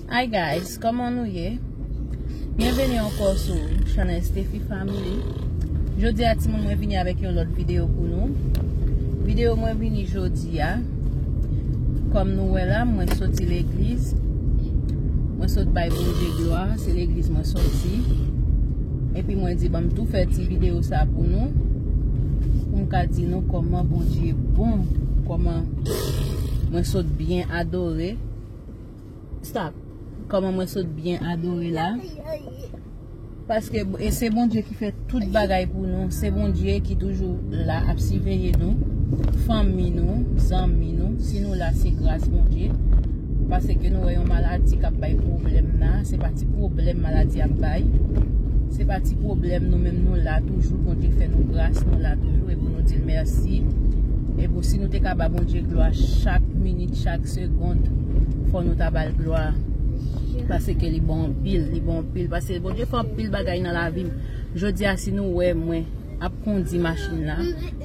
Hi guys, koman nou ye? Bienvenue anko sou chanel Steffi Family Jodi a ti moun mwen vini avèk yon lòt videyo pou nou Videyo mwen vini jodi a Kom nou wè la mwen soti l'egliz Mwen sot bay pou je glwa, se l'egliz mwen soti Epi mwen di banm tou fè ti videyo sa pou nou Pou m ka di nou koman bon je bon Koman mwen sot byen adore stop kòman mwen sot byen adore la paske e se Bondye ki fè tout bagay pou nou se Bondye ki toujou la ap siveye nou fanmi nou, zanmi nou si nou la se gras Bondye pase ke nou wè yon maladi kap bay problem la, se pa ti problem maladi ap bay se pa ti problem nou menm nou la toujou Bondye fè nou gras nou la toujou e pou nou di l merci. E pou si nou te ka ba Bondye glwa chak minit, chak segond, fò nou ta bal glwa. Pase ke li bon anpil, li bon anpil. Pase Bondye fè anpil bagay nan la vim. Jodi a si nou wè mwen ap kondi machin la,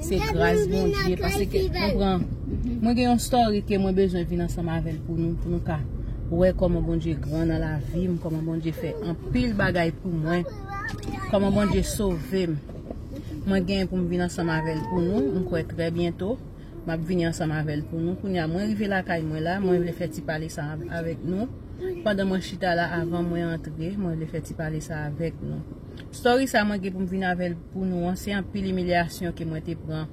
se gras Bondye. Pase ke mwen pran, mwen gen yon story ke mwen bezwen vin ansanm avèl pou nou, pou nou ka. Wè kòman Bondye gran nan la vim, kòman Bondye fè anpil bagay pou mwen, kòman Bondye sovem. Mwen gen pou m vin ansanm avè l pou nou, m kwè trè byento, m ap vini ansanm avè l pou nou. Kounye a, mwen rive lakay mwen la, mwen vle fè ti pale sa a avèk nou. Pandan mwen chita la, avan mwen antre, mwen vle fè ti pale sa a avèk nou. Story sa a mwen gen pou m vin avè l pou nou an, se anpil imilyasyon ke mwen te pran.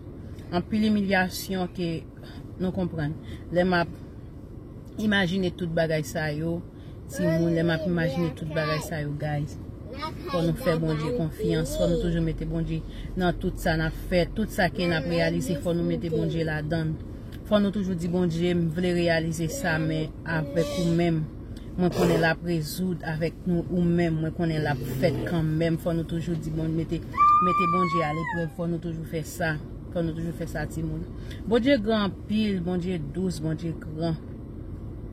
Anpil imilyasyon ke, nou konprann, lè m ap imajine tout bagay sa yo. timoun lè map imajine tout bagay sa yo guys fò nou fè Bondye konfyans fò nou toujou mete Bondye nan tout sa nap fè tout sa ke nap reyalize fò nou mete Bondye la dann fò nou toujou di Bondye m vle reyalize sa men avèk ou menm mwen konnen lap rezoud avèk nou ou menm mwen konnen lap fèt kan menm fò nou toujou di Bondye mete mete Bondye a leprèv fò nou toujou fè sa fò nou toujou fè sa timoun Bondye gran anpil Bondye dous Bondye gran.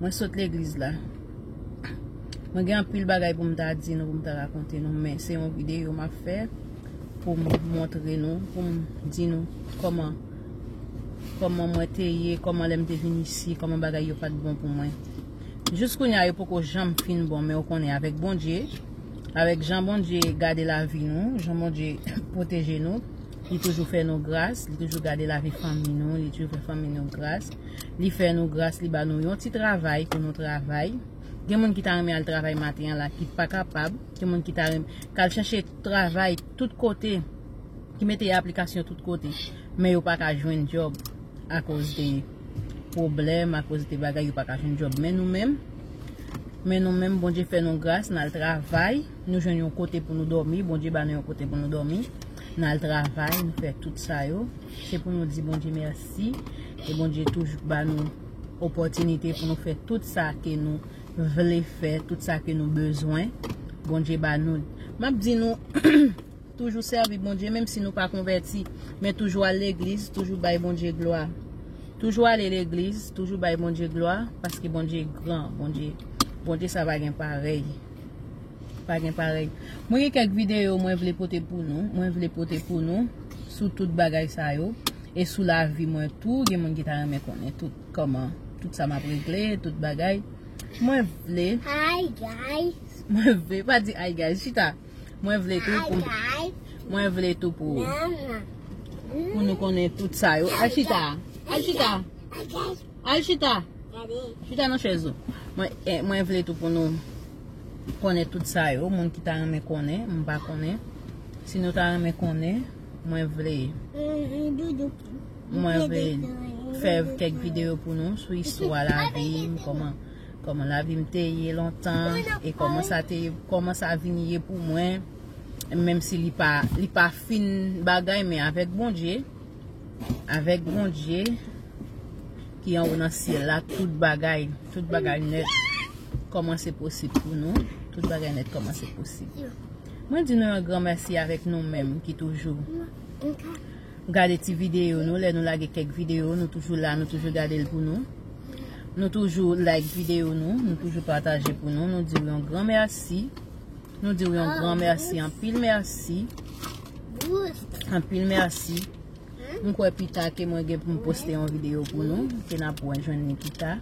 Mwen sot legliz la. Mwen gen anpil bagay pou m ta di nou, pou m ta rakonte nou, men se yon videyo m ap fè pou m montre nou, pou m di nou kòman kòman mwen te ye, kòman lè m te vin isi, kòman bagay yo pat bon pou mwen. Jous kounye a yo poko janm fin bon, men ou konnen avèk Bondye, avèk jan Bondye gade lavi nou, jan Bondye pwoteje nou, li toujou fè nou gras, li toujou gade lavi fanmi nou, li toujou fè fanmi nou gras. Li fè nou gras, li ba nou yon ti travay pou nou travay. Gen moun ki ta renmen al travay maten an la ki pa kapab. Gen moun ki ta renmen kal chache travay tout kote, ki mete aplikasyon tout kote. Men yo pa ka jwenn job a koz de pwoblèm, a koz de bagay yo pa ka jwenn job. Men nou menm, men nou menm, Bondye fè nou gras, nal travay. Nou jwenn yon kote pou nou domi, Bondye ba nou yon kote pou nou domi. Nou al travay, nou fè tout sa yo. Se pou nou di Bondye mèsi. E Bondye toujou ba nou opòtinite pou nou fè tout sa ke nou vle fè, tout sa ke nou bezwen. Bondye ba nou. M ap di nou, toujou sèvi Bondye, menm si nou pa konvèti. Men toujou al legliz, toujou bay Bondye glwa. Toujou ale legliz, toujou bay Bondye glwa, paske Bondye gran, Bondye, Bondye sa pa gen parèy. Pa gen parèy. Mwen gen kèk videyo mwen vle pote pou nou. Mwen vle pote pou nou sou tout bagay sa yo. E sou la vi mwen tou. Gen moun ki ta renmen konnen tout koman. Tout sa map regle. Tout bagay. Mwen vle. Hi guys. Mwen vle. Pa di hi guys. Chita. Mwen vle tou pou. Hi guys. Mwen vle tou pou. Nan nan. Pou nou konnen tout sa yo. Al chita. Al chita. Hi guys. Al chita. Chita nan chèz ou. Mwen vle tou pou nou konnen tout sa yo. Moun ki ta renmen konnen. Mwen pa konnen. Si nou ta renmen konnen. Mwen vle. Mwen vle. Fèv kèk videyo pou nou. Sou istwa la vim. Koman. Koman la vim te ye lontan. E koman sa te. Koman sa vim ye pou mwen. Menm si li pa. Li pa fin bagay men avèk bon dje. Avèk Bondye ki anwo nan syèl la, tout bagay, tout bagay nèt kòmanse posib pou nou. Tout bagay nèt kòmanse posib. Mwen di nou yon gran mèsi avèk nou menm ki toujou gade ti videyo nou. Lè nou lage kèk videyo, nou toujou la, nou toujou gade l pou nou. Nou toujou like videyo nou, nou toujou pataje pou nou. Nou di yon gran mèsi. Nou diw yon gran merci anpil merci. Anpil merci. M kwè pita ke mwen gen pou m poste yon video pou nou. Ke na pou an jwenn Nikita.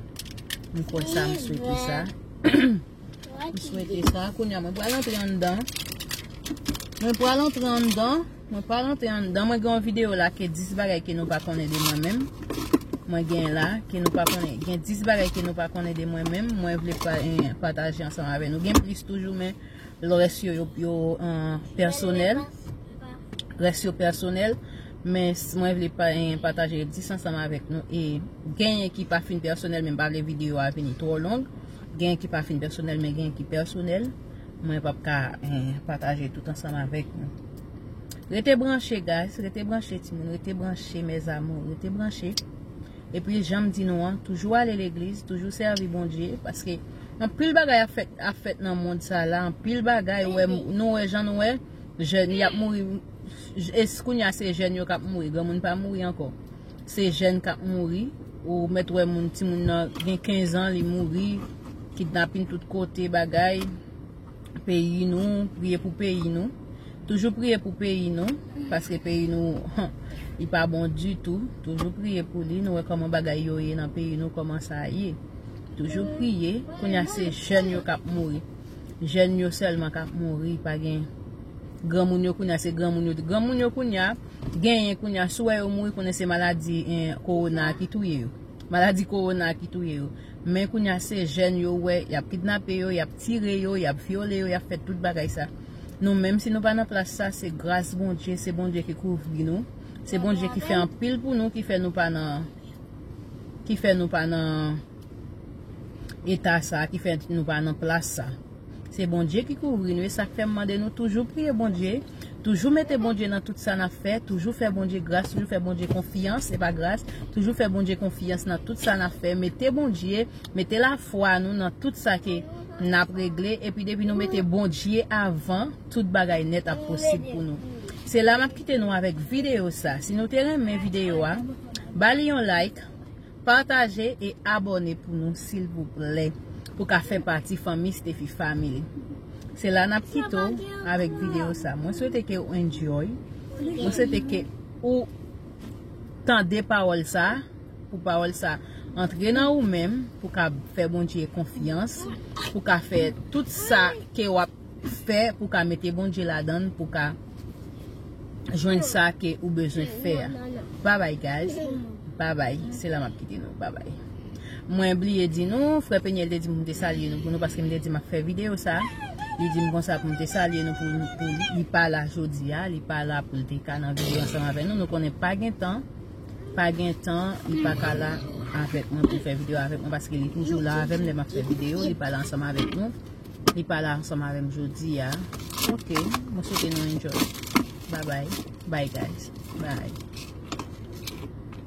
M kwè sa m swete sa. M swete sa. Koun ya mwen pral antre an dan. Mwen pral antre an dan. Mwen pa rantre anndan mwen gen yon video la ke 10 bagay ke nou pa konnen de mwen menm mwen gen la ke nou pa konnen gen 10 bagay ke nou pa konnen de mwen menm mwen vle pataje ansanm avè nou gen plis toujou men lò rès yo yo personel rès yo personel men mwen vle pataje 10 ansanm avèk nou e gen yon ki pa fin personel men m pa vle video a vini tro long gen yon ki pa fin personel men gen yon ki personel Mwen pap ka pataje tout ansanm avèk nou. Rete branche guys, rete branche ti moun, rete branche mes amours, rete branche. E pi janm di nou an, toujou ale legliz, toujou sèvi Bondye, paske anpil bagay ap fèt nan mond sa la, anpil bagay ou wè, nou wè jan nou wè, jèn y ap mouri, es kounya se jèn yo k ap mouri, granmoun pa mouri ankò. Se jèn kap mouri, ou mèt wè moun ti moun nan gen 15 ans li mouri, kidnapin tout kote bagay, peyi nou, priye pou peyi nou, toujou priye pou peyi nou, paske peyi nou li pa bon ditou, toujou priye pou li, nou wè koman bagay yo ye nan peyi nou koman sa ye, toujou priye, kounya se jèn yo kap mouri, jèn yo sèlman kap mouri, pa gen granmoun yo kounya se granmoun yo, granmoun yo kounya. Genyen kounya si w wè yo mouri konnen se maladi kowona a ki touye yo. Maladi kowona a ki touye yo. Men kounya se jèn yo wè y ap kidnape yo, y ap tire yo, y ap vyole yo, y ap fè tout bagay sa. Nou menm si nou pa nan plas sa se gras Bondye, se Bondye ki kouvri nou, se Bondye ki fè anpil pou nou ki fè nou pa nan ki fè nou pa nan eta sa, ki fè nou pa nan plas sa. Se Bondye ki kouvri nou e sak fèm mande nou toujou priye Bondye, toujou mete Bondye nan tout sa nap fè, toujou fè Bondye gras, toujou fè Bondye konfyans e pa gras, toujou fè Bondye konfyans nan tout sa nap fè, mete Bondye, mete lafwa nou nan tout sa ke nap regle epi depi nou mete Bondye avan tout bagay nèt ap posib pou nou. Se la map kite nou avèk videyo sa. Si nou te renmen videyo a, ba li yon like, Pataje e abòne pou nou silvouplè pou ka fè pati fanmi stephie family se la nap kite w avèk video sa mwen swete ke ou enjoy mwen swete ke ou tande pawòl sa pou pawòl sa antre nan ou menm pou ka fè bondye konfyans pou ka fè tout sa ke wap fè pou ka mete bondye ladann pou ka jwenn sa ke ou bezwen fè a bye bye guys bye bye se la map kite nou bye bye mwen bliye di nou frè Peniel te di m pou m te salye nou pou nou paske m te di map fè video sa li di m konsa pou m te salye nou pou li pa la jodi a li pa la pou l te ka nan video ansanm avè nou nou konnen pa gen tan pa gen tan li pa ka la avèk mwen pou fè video avèk mwen paske li toujou la avèm lè map fè video li pa la ansanm avèk nou. Li pa la ansanm avèm jodia. Ok mwen swete nou enjoy. Bye bye. Bye guys. Bye.